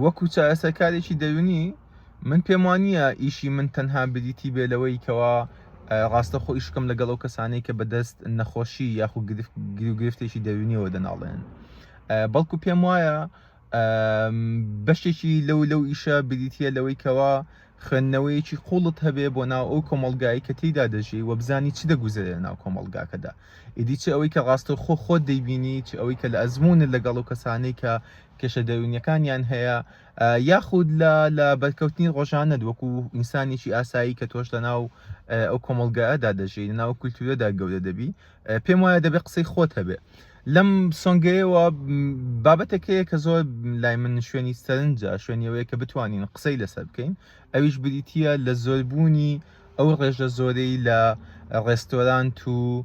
وەکو چارەسەرکارێکی دەروونی من پێم وانە ئیشی من تەنها بریتی بێ لەوەی کەوا ڕاستەخۆ ئیشکم لەگەڵ ئەو کەسانەی کە بەدەست نەخۆشی یاخو گرفتێکی دەروونیەوە دەناڵێن بەڵکو پێم وایە بەشێکی لەو لەو ئیشە بریتە لەوەی کەوا خوێندنەوەیەکی قووڵت هەبێ بۆ ناو ئەو کۆمەڵگایەی کە تێیدا دەژی و بزانی چ دەگوزەرێ لە ناو کۆمەڵگاکەدا، ئیدی چ ئەوەی کە ڕاستەوخۆ خۆت دەیبینی، چ ئەوەی کە لە ئەزموونت لەگەڵ ئەو کەسانەی کە کێشە دەروونییەکانیان هەیە، یاخود لە لە بەرکەوتنی ڕۆژانەت وەکوو ئینسانێکی ئاسایی کە تۆش لە ناو ئەو کۆمەڵگایەدا دەژی، لە ناو ئەو کولتوورەدا گەورە دەبی، پێم وایە دەبێ قسەی خۆت هەبێ. لەم سۆنگەیەوە بابەتێک هەیە کە زۆر لای من شوێنی سەرنجە شوێنیەوەیە کە بتوانین قسەی لەسەر بکەین ئەویش بریتە لە زۆربوونی ئەو ڕێژە زۆرەی لە ڕێستۆرانت و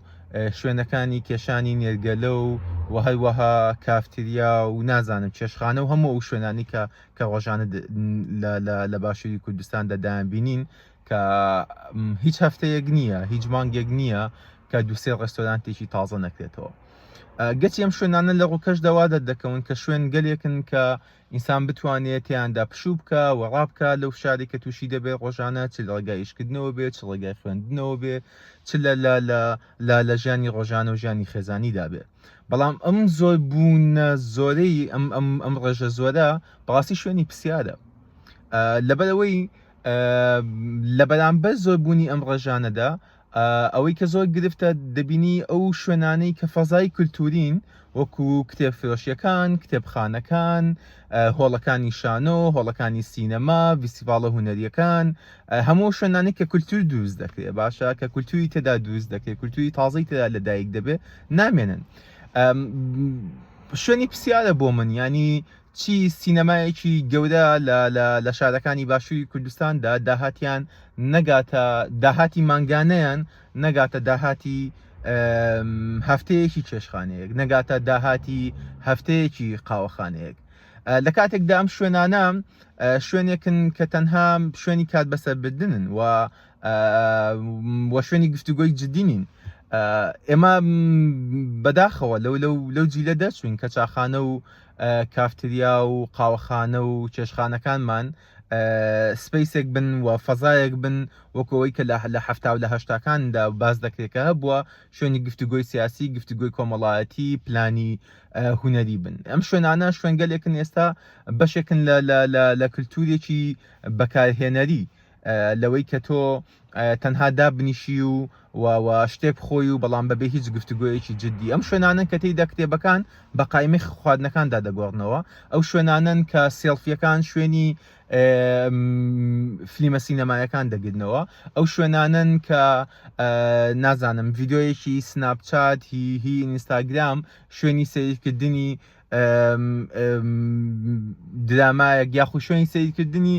شوێنەکانی کێشانی نێرگەلە و و هەروەها کافتریا و نازانم چێشخانە و هەموو ئەو شوێنانی کە کە ڕۆژانە لە باشووری کوردستاندا دایان بینین کە هیچ هەفتەیەک نییە هیچ مانگێک نییە کە دووسێ ڕێستۆرانتێکی تازە نەکرێتەوە گەچی ئەم شوێنانە لە ڕووکەش دەوا دەردەکەون کە شوێن گەلێکن کە ئینسان بتوانێت تیاندا پشوو بکە و ڕابکە لەو شاری کە تووشی دەبێت ڕۆژانە چ ڕێگایشکردنەوە بێت چ ڕێگای خوێندنەوە بێ چ لە لا لا لە ژیانی ڕۆژانە و ژیانی خێزانیدا بێت بەڵام ئەم زۆر بوونە زۆرەی ئەم ئەم ئەم ڕێژە زۆرە بەڕاستی شوێنی پرسیارە لەبەرەوەی لە بەرامبەر زۆربوونی ئەم ڕێژانەدا ئەوەی کە زۆر گرفتە دەبینی ئەو شوێنانەی کە فەزای کللتورین وەکو کتێب فرۆشیەکان کتێبخانەکان هۆڵەکانی شانۆ هۆڵەکانی سینەما ویسیڤالە هوەریەکان هەموو شوێنانی کە کللتور دروست دەکرێت باشە کە کللتوری تێدا دروست دەکرێت کللتوری تازەی تێدا لەدایک دەبێت نامێنن شوێنی پرسیارە بۆ من ینی چی سینەمایەکی گەورە لە لە لە شارەکانی باشووری کوردستاندا داهاتیان نەگاتە داهاتی مانگانەیان نەگاتە داهاتی هەفتەیەکی چێشخانەیەک نەگاتە داهاتی هەفتەیەکی قاوەخانەیەک لە کاتێکدا ئەم شوێنانە شوێنێکن کە تەنها شوێنی کات بەسەر بدنن و وە شوێنی گفتوگۆی جددینین ئێمە بەداخەوە لەو لەو لەو جیلە دەرچوین کە چاخانە و کافتریا و قاوەخانە و چێشخانەکانمان سپیسێک بن و فەزایەک بن وەکەوەی کە لە لە هەفتا و لە هەشتاکاندا باز دەکرێتکە هەبووە شوێنی گفتوگۆی سیاسی گفتوگۆی کۆمەڵایەتی پلانی هوەری بن ئەم شوێنانە شوێنگەلێکن ئێستا بەشێکن لە لە کللتورێکی بەکارهێنەری لەوەی کە تۆ تەنها دابنیشی و و شتێ بخۆی و بەڵام بەبێ هیچ گفتوگویەکی جددی ئەم شوێنانن کە تێیدا کتێبەکان بە قایمە خواردنەکاندا دەگۆڕنەوە ئەو شوێنانن کە سێڵفیەکان شوێنی فلیمە سینەمایەکان دەگرنەوە ئەو شوێنانن کە نازانم ڤیددیویەکی سناپچات هی هی ئینستاگرام شوێنی سیرکردنی درامایەک یاخو شوێنی سیرکردنی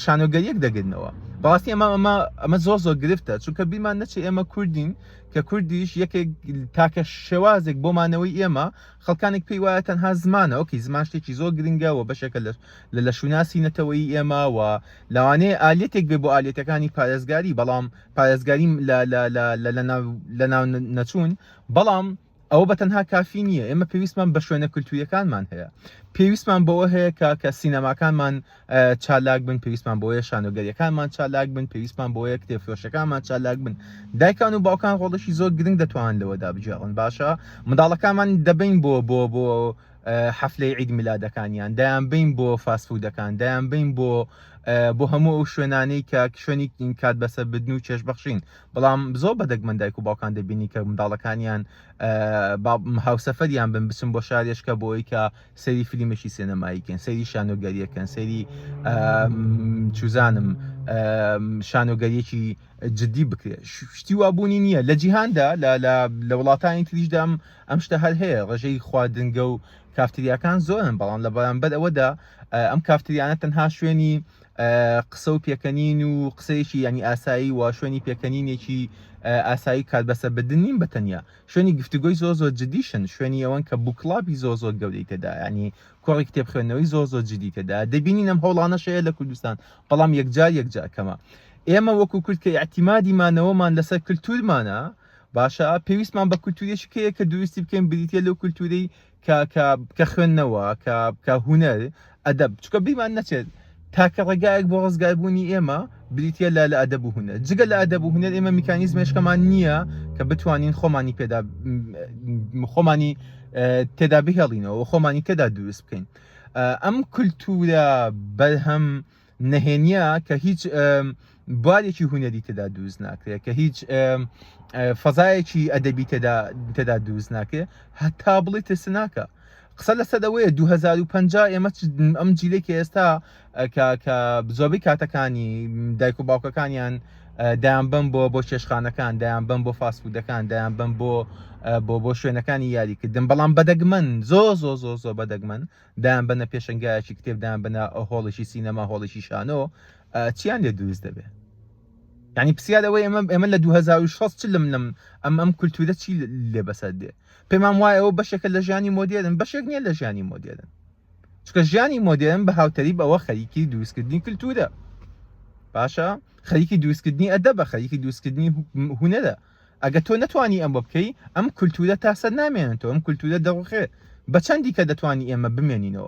شانۆگەریەک دەگرنەوە بەڕاستی ئەمە ئەمە ئەمە زۆر زۆر گرفتە چونکە بیمان نەچێ ئێمە کوردین کە کوردیش یەکێک تاکە شێوازێک بۆمانەوەی ئێمە خەڵکانێک پێی وایە تەنها زمانە ئۆکی زمان شتێکی زۆر گرنگە و بەشێکە لە لە لە شووناسی نەتەوەی ئێمە و لەوانەیە ئالەتێک بێ بۆ ئالەتەکانی پارێزگاری بەڵام پارێزگاری لە لە ناو نەچوون بەڵام ئەوە بە تەنها کافی نییە ئێمە پێویستمان بە شوێنە کللتوریەکانمان هەیە پێویستمان بەوە هەیە کە کە سینەماکانمان چالاک بن پێویستمان بۆیە شانۆگەریەکانمان چالاک بن پێویستمان بۆیە کتێفرۆشەکانمان چالاک بن دایکان و باوکان ڕۆڵشی زۆر گرنگ دەتوان لەوەدا بجێڕن باشە منداڵەکانمان دەبین بۆ بۆ بۆ حەفلەی عید میلادەکانیان دایان بین بۆ فاسفودەکان دایان بین بۆ بۆ هەموو ئەو شوێنانەی کە شوێنی کات بەسەر بدن و چێشبەخشین بەڵام زۆر بە دەگمەن دایک و باوکان دەبینی کە منداڵەکانیان هاوسەفەریان بن بچن بۆ شارێشکە بۆ ئەوی کە سەری فلیمێکی سێنەماییکەن سەری شانۆگەریەکەن سەری چوزانم شانۆگەریەکی جددی بکرێت شتی وابوونی نییە لە جیهاندا لە وڵاتانی تریشدام ئەم شتە هەر هەیە ڕژەی خواردنگە و کافتریاکان زۆرن بەڵام لە بەرامبەر ئەوەدا ئەم کافتریانە تەنها شوێنی قسە و پێکەنین و قسەیەکی ینی ئاسایی و شوێنی پێکەنینێکی ئاسایی کات بەسە بدن نیم بەتەنیا شوێنی گفتوگۆی زۆ زۆ جدیشن شوێنی ئەوەن کە بووکڵاپی زۆ زۆر گەورەی تێدا ینی کۆڕی کتێب خوێندنەوەی زۆ زۆ جدی تێدا دەبینین ئەم هەوڵانەشەیە لە کوردستان بەڵام یەکجار یەکجار کەمە ئێمە وەکو کورد کە ئاعتیمادی مانەوەمان لەسەر کللتورمانە باشە پێویستمان بە کللتوریشکەیە کە دروستی بکەین بریتە لەو کللتوری کە کە کە خوێندنەوە کە کە هوەر ئەدەب چکە بیمان نەچێت تاکە ڕێگایەک بۆ ڕزگار بوونی ئێمە بریتە لە لە ئەدەب و هوەر جگە لە ئەدەب و هوەر ئێمە میکانیز مێشکەمان نییە کە بتوانین خۆمانی پێدا خۆمانی تێدا بهێڵینەوە خۆمانی تێدا دروست بکەین ئەم کللتورە بەرهەم نهێنیە کە هیچ بوارێکی هوەری تێدا دووز ناکرێت کە هیچ فەزایەکی ئەدەبی تێدا تێدا دووز ناکرێت هەتا بڵێ ترسناکە قسە لەسەر ئەوەیە 2050 ئێمە ئەم جیلێکی ئێستا کە زۆبی کاتەکانی دایک و باوکەکانیان دایان بم بۆ بۆ چێشخانەکان دایان بم بۆ فاسفودەکان دایان بم بۆ بۆ بۆ شوێنەکانی یاریکردن بەڵام بەدەگمەن زۆ زۆ زۆ زۆ بەدەگمەن دایانبەنە پێشەنگایەکی کتێب دایانبەنە هۆڵێکی سینەما هۆڵێکی شانۆ چیان لێ دروست دەبێ ینی پرسیار ئەوەی ئەمە ئێمە لە 2006 لەم لەم ئەم ئەم کولتورە چی لێ بەسەر دێ پێمان وایە ئەوە بەشێکە لە ژیانی مۆدێرن بەشێک نییە لە ژیانی مۆدێرن چکە ژیانی مۆدێرن بە هاوتەری بەوە خەریکی دروستکردنی کولتورە باشە خەریکی دروستکردنی ئەدە بە خەریکی دروستکردنی هوەرە ئەگە تۆ نەتوانی ئەمە بکەی ئەم کولتورە تاسەر نامێنێتەوە ئەم کولتورە دەڕوخێ بە چەندی کە دەتوانی ئێمە بمێنینەوە.